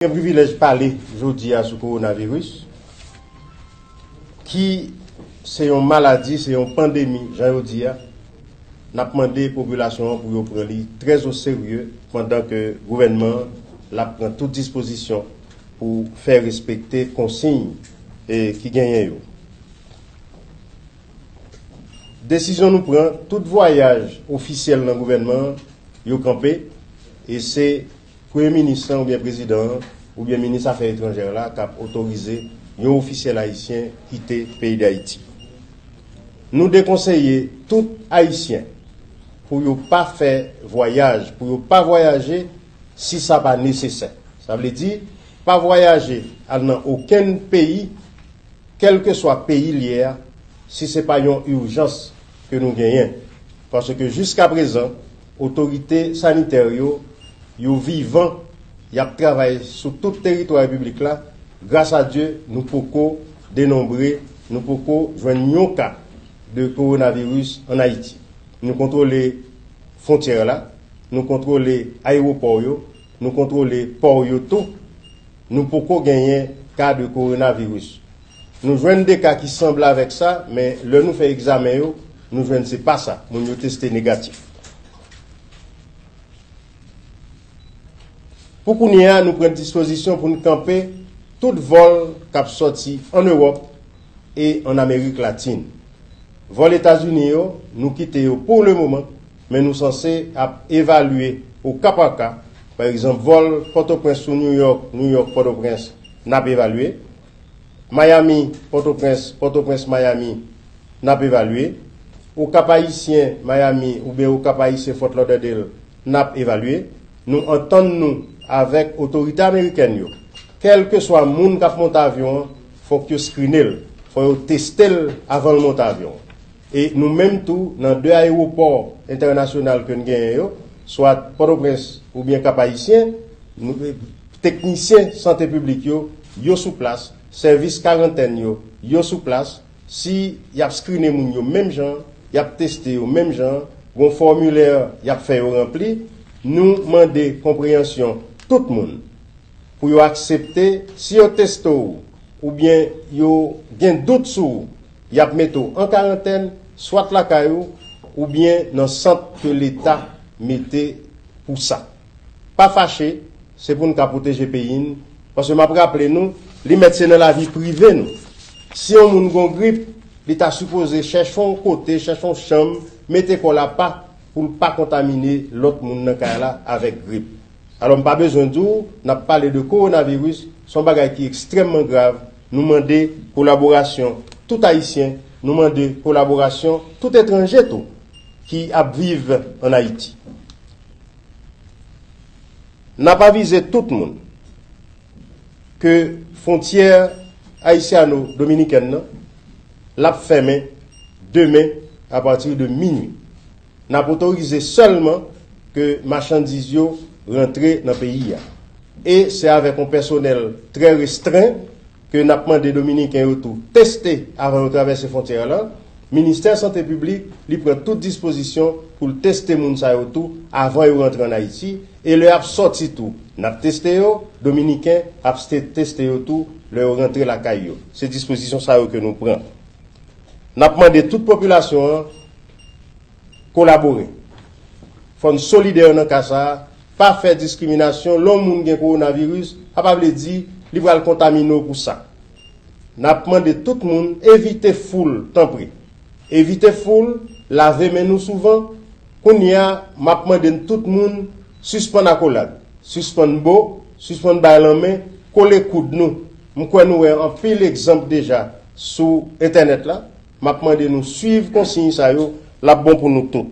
Gen privilèj pale jodi a sou kowonaviris ki se yon maladi, se yon pandemi jan yo di a, n ap mande popilasyon an pou yo pran li trè o serye pandan ke gouvènman an l ap pran tout dispozisyon pou fè respekte konsiy ki genyen yo. Desizyon nou pran, tout vwayaj ofisyèl nan gouvènman an yo kanpe e se. Premye Minis lan oubyen Prezidan an oubyen Minis Afè Etranjè la k ap otorize yon ofisyèl ayisyen kite peyi Dayiti. Nou dekonseye tout Ayisyen pou yo pa fè vwayaj, pou yo pa vwayaje si sa pa nesesè. Sa vle di, pa vwayaje al nan okenn peyi, kèlkeswa peyi l ye a, si se pa yon ijans ke nou genyen. Paske jiskaprezan. Otorite sanitè yo, yo vivan, y ap travay sou tout teritwa Repiblik la, gras a Dye nou poko denonbre, nou poko jwenn yon ka de kowonaviris an Ayiti. Nou kontwole fwontyè la, nou kontwole ayewopò yo, nou kontwole pò yo tou, nou poko genyen ka de kowonaviris. Nou jwenn 2 ka ki sanble avèk sa, men lè nou fè egzamen yo, nou jwenn se pa sa, moun yo teste negatif. Pou kounye a, nou pran dispozisyon pou n kanpe tout vòl k ap sòti an Ewòp e an Amerik Latin. Vòl Etazini yo, nou kite yo pou le moman, men nou sanse ap evalye o ka pa ka, pa egzanp vòl Pòtoprens sou New York, New York-Pòtoprens, n ap evalye. Miami, Pòtoprens, Pòtoprens, Miami, N ap evalye. O Kap-Ayisyen, Miami, oubyen O Kap-Ayisyen, Fort Lauderdale, N ap evalye. Nou antann nou avèk otorite amerikèn yo. Kèlkeswa moun k ap monte avyon an, fòk yo skrine l, fò yo teste l avan l monte avyon an. E nou menm tou, nan de ayewopò entènasyonal ke n genyen yo, swat Pòtoprens oubyen Kap-Ayisyen, nou. Teknisyen sante piblik yo, yo sou plas, sèvis karantèn yo, yo sou plas, si yap skrine moun yo menm jan, yap teste yo menm jan, gon fòmilè yap fè yo ranpli, nou mande konpreyansyon tout moun pou yo aksepte si yo teste w oubyen yo gen dout sou ou yap mete w an karantèn swat lakay ou oubyen nan sant ke leta mete pou sa. Pa fache, se pou n ka pwoteje peyi n, paske m ap raple nou, li mèt se nan lavi prive nou. Si yon moun gen yon grip, li ta sipoze chèche yon kote, chèche yon chanm, mete kò l apa pou l pa kontamine lòt moun nan kay la avèk grip. Alò m pa bezwen di w, n ap pale de kowonaviris, se yon bagay ki ekstrèmman grav, nou mande kolaborasyon tout Ayisyen, nou mande kolaborasyon tout etranje tou ki ap viv an Ayiti. N ap avize tout moun ke fwontyè ayisyano dominikèn nan l ap fèmen demen apati de minui. N ap otorize sèlman ke machandiz yo rantre nan peyi a e se avèk yon pèsonèl trè restren. ke nap mande dominiken yo tou teste avan yo travèse fontyè lan, ministè sante piblik li pran tout dispozisyon pou l teste moun sa yo tou avan yo rantre an Ayiti e lè yap sòti tou nap teste yo, dominiken ap teste yo tou lè yo rantre lakay yo. Se dispozisyon sa yo ke nou pran. Nap mande tout popilasyon an. kolabore. Fò n solidè nan ka sa a, pa fè diskriminasyon, lè yon moun gen kowonaviris, sa pa vle di li pral kontamine w pou sa. N ap mande tout moun evite foul tanpri. Evite foul, lave men nou souvan, kounye a m ap mande n tout moun sispann akolad, sispann bo, sispann bay lanmen, kole koud nou, m kwè nou wè anpil egzanp deja. Sou entènèt la, map mande nou swiv konsiy sa yo, lap bon pou nou tout.